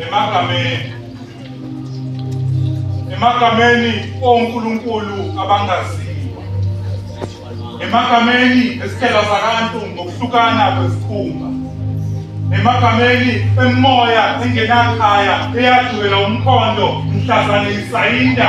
emagameni emagameni onkulunkulu abangaziwa emagameni esithela zabantu ngokuhlukana kwezikhumba emagameni emimoya engenakhaya eyadulela umkhondo mhlazane isayinda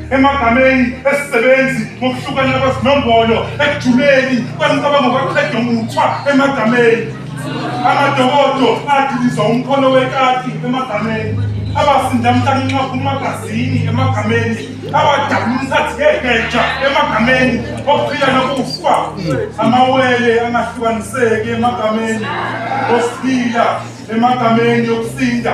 emagameni esisebenzi ngokuhlukana kwezinombolo ekujuleni kwemicabango kwaqeda umuthwa emagameni amadokodo adiliza umkhono wekati emagameni abasinda mhlanxa kumagazini emagameni abadabula umthathi ngegeja emagameni okuphila nokufa amawele angahlukaniseki emagameni osiphila emagameni yokusinda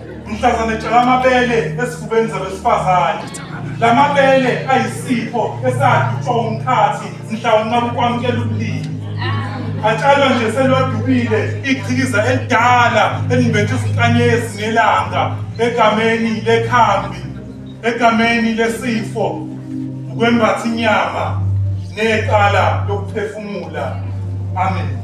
mhlazane tshala amabele esifubeni zabesifazane la mabele ayisipho esadutshwa umkhathi mhla unqaba ukwamukela ubulili atshalwa nje selwadubile ichikiza elidala elimbethe izinkanyezi ngelanga egameni lekhambi Egameni lesifo ukwembatha inyama neqala lokuphefumula. Amen.